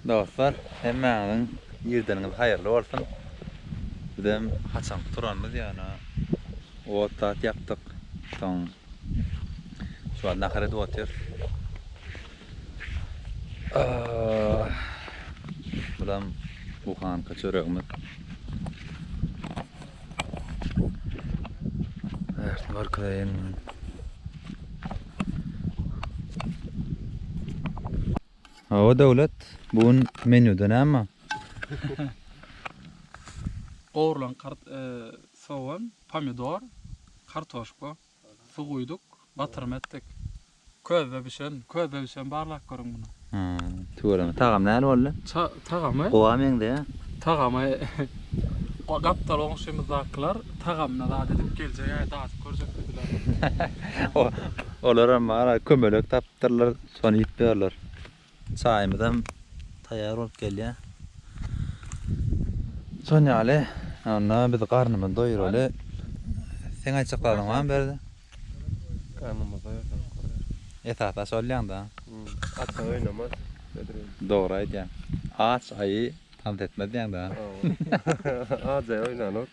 Dostlar hemmäňiziň irdeniňiz haýyrly bolsun. Bizem haçanky turanymyz ýöne ot zat ýakdyk. Soň şu wagt nahar edip otyrys. Bulam buhanka çöregimiz. Ertini görkezeýin. Hawa Döwlet, bu gün menýuda näme? Gowrulan kart, sogan, pomidor, kartoşka, suw guýduk, batyrma etdik. Közde bişen, közde bişen barlap görüň muny. Ha, tüweleme. Tagamy nähili boldy? Tagamy? Gowa meňzeýä. Tagamy gapdal goňşymyzdakylar tagamyna zat edip geljek-ä, dadyp görjek diýdiler. Olaram bar-a, kömelek tapypdyrlar Şony iýip ýörler. Çaýymyzam taýýar bolup gelýär. Şon ýaly, onda biz garnymyzy doýuraly. Seň aýtjaklaryň barmy Berdi? Garnymyzy doýursak bolar. Esasy aç bolýaň-da. Aç oýnamaz Bedriýew. Dogry aýdýaň. Aç aýy tans etmez diýýäň-dä. Hawa. Aç aýy oýnanok.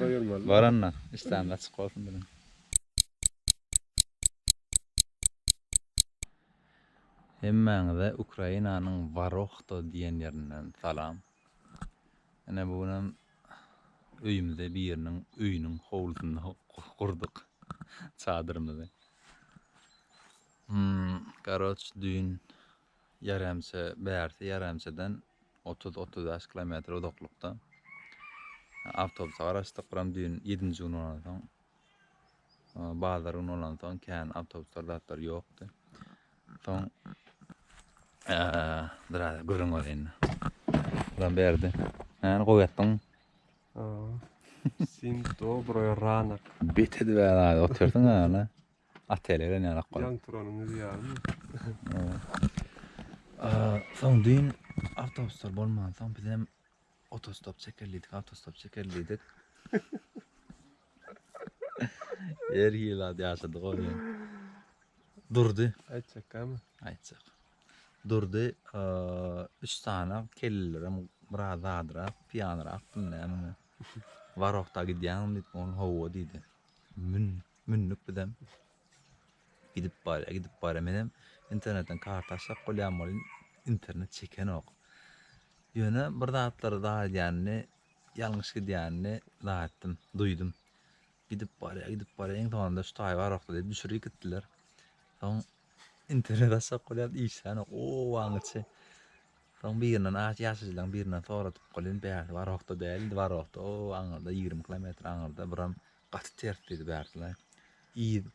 Doýurmaly. Bar onda, işdäňiz açyk bolsun biziň. Hemmäňize Ukrainanyň Warohto diýen ýerinden salam. Ine bu günem öýümize biriniň öýüniň howlusynda gurduk çadyrymyzy. Hmm, garoç düýn ýaremçe bärsi ýaremçeden otuz otuz bäş kilometr uzaklykda awtobusa garaşdyk. Buram düýn ýedinji gün bolansoň Bazar güni bolansoň kän awtobuslar zatlar ýokdy. Soň biraz gürrüň bar indi. Lan berdi. Näni gowy etdiň? Sim dobroý ranak. Bet edip ýa otyrdyň ýa. Atele gelen ýa lak. Ýan turanyňyz ýaly. Soň düýn awtobuslar bolmansoň bizem Otostop çekerlidik, autostop çekerlidik. Her hili ad ýaşadyk o bilen. Durdy. Aýtjak gamy? Aýtjak. Durdy, eee, üç sany kellelerem biraz zadrak, piýanrak bilmeýänim. Warokda gidýäňmi diýip, ony hawa diýdi. Mün, mündük bizem. Gidip barýa gidip barýa menem internetden karta açjak bolýan welin internet çekenok. Ýöne bir zatlar zar edýänini, ýalňyş gidýänini zar etdim, duýdum. Gidip barýa gidip barýa iň soňunda şu taý barokda diýip düşürip gitdiler. Soň internet açjak bolýan işlänok. O waňyçy. Soň birinden aç ýaşaýjylaryň birinden soradyp bolýan bäri barokda däldi, barokda. O aňyrda 20 kilometr aňyrda biram Gaty ters diýdi bärtlaý. Yz,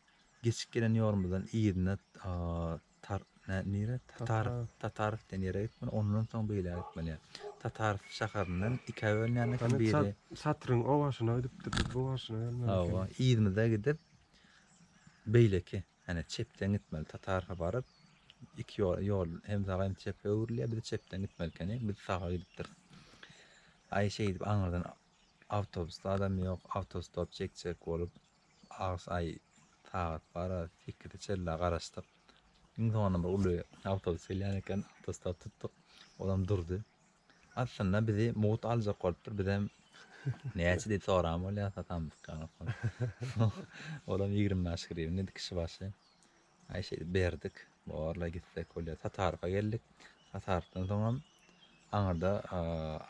geçip gelen ýolumyzdan yzyna Tar, nä, nirä? Tatar, Tataryf diýen ýere gitmeli, ondan soň beýläk gitmeli. Tataryf şäherinden ikä bölünýän eken biri. Hany çat, çatryň o başyna gidipdik, biz bu başyna gelmeli ekeniz. Hawa, yzymyza gidip, beýleki, hany çepden gitmeli, Tataryfa baryp, iki ýol, ýol hem saga hem çepe öwrülýär, biz çepden gitmeli ekeni, biz saga gidipdiris. Aý şeýdip aňyrdan Awtobusda adam ýok, awtostop çekjek bolup az aý sagat bar-a, sekize çenli garaşdyk. Iň soňundan bir uly awtobus gelýän eken, awtostop tutduk, olam durdy. Aslynda bizi mugt aljak bolupdyr, bizem näçe diýip soran bolýar, satamdyk ýaňy. Olam ýigrimi bäş grywna diýdi kişi başy. Aý şeýdip berdik. Borla gitsek bolýar. Satarka geldik. Satarykdan soňam aňyrda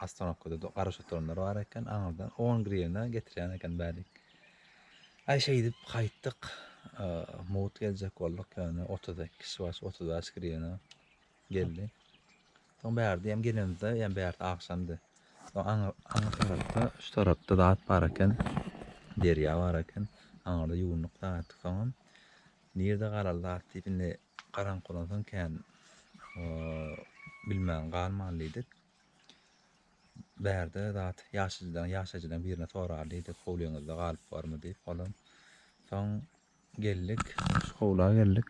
ostanowkada garaş oturanlar bar eken. Aňyrdan 10 grivna getirýän eken bärik. Aý şeýdip gaýtdyk. Mugt geljek bolduk ýöne 32 kişi baş 35 grivna. Geldi. Soň bärde ýem gelenimizde ýem bärde agşamdy. Soň aňy aňy tarapda şu tarapda zat bar eken. Derýa bar eken. Aňyrda ýuwunduk daň etdik soňam. Nirde galar zat diýip indi garaňky bolansoň kän bilmän galman diýdik. Bärde zat ýaşajydan ýaşajydan birine sorar diýdik howlyňyzda galyp barmy diýip olam. Soň Geldik. Şu howla geldik.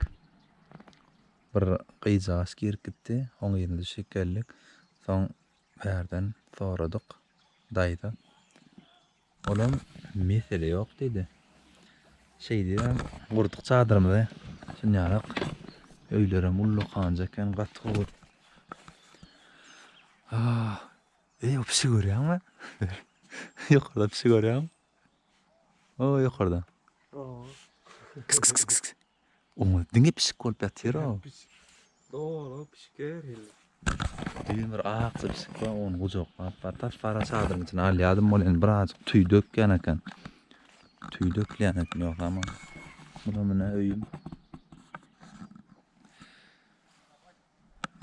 Bir gyzjagaç girip gitdi. Oň yzyna düşüp geldik. Soň bärden soradyk. Daýza. Olam mesele ýok diýdi. Şeýdibem gurduk çadyrymyzy. Şunýarak öýlerem ullakanjy eken, gaty gowy. Ah, eý, o pişigi görýäňmi? Ýokarda pişigi görýäňmi? O ýokarda. Kis kis kis kis. Oňa diňe pişik bolup ýatyr o. Dogry pişik her hili. Düýn bir ak pişik bar, ony gujaklap bar. Tas para çadyryň içine alýadym ol indi birazjyk tüý dökýän eken. Tüý dökýän eken ýogsa ama. Buna mine öýüm.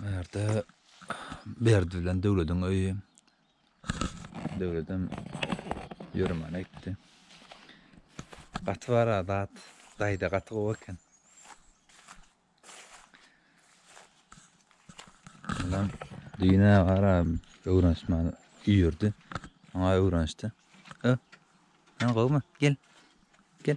Berde Berdi bilen Döwlediň öýi. Döwledem ýöremana gitdi. Gaty bar adat. Daýda gaty gowy eken. Ondan düýn agara öwrenişmäni üýerdi. Oňa öwrenişdi. Ö. Sen gowmy? Gel. Gel.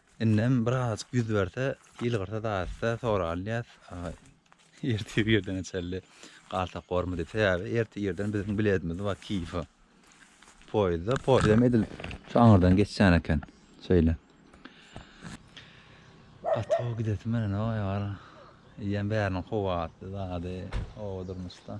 Indem birazajyk ýüz berse, ýylgyrsa daýysa soralýas, ertir irdeňe çenli galsak bormy diýip. Sebäbi ertir irden biziň biletimiz bar Kiýewe. Poýezda, poýezdem edil şu aňyrdan geçýän eken. Şeýle. Gaty gowy gidesim gelenok, aýwara. Eýýäm bäriniň kuwwatly zady, oba durmuşda.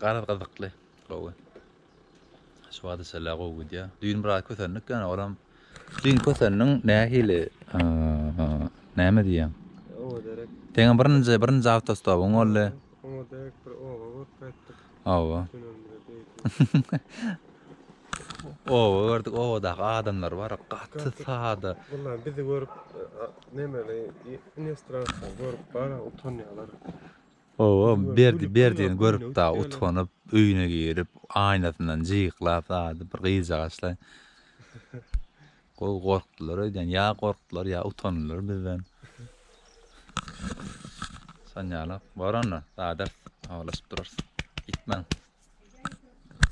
Garaz gyzykly, gowy. Şu wagta çenli gowy gidýär. Düýn biraz kösendik ýöne olam düýn kösendiň nähili näme diýýäň? Oba derek. Teňe birinji birinji awtostopuň boldy. Oňa derek bir oba görüp gaýtdyk. Oba. Oba gördük, obadaky adamlar bar, gaty sada. Bunlar bizi görüp, nemeli, inestraslar görüp, bara utanýarlar. Oba, berdi, berdini görüp da, utanyp, öýüne girip, aýnasyndan jyklap, zady bir gyzjagaçlar. Gowy gorkdular öýdýän, ýa gorkdular, ýa utandylar bizden. Şonýaly, bar onda, zadys, habarlaşyp durarys. Gitmäň.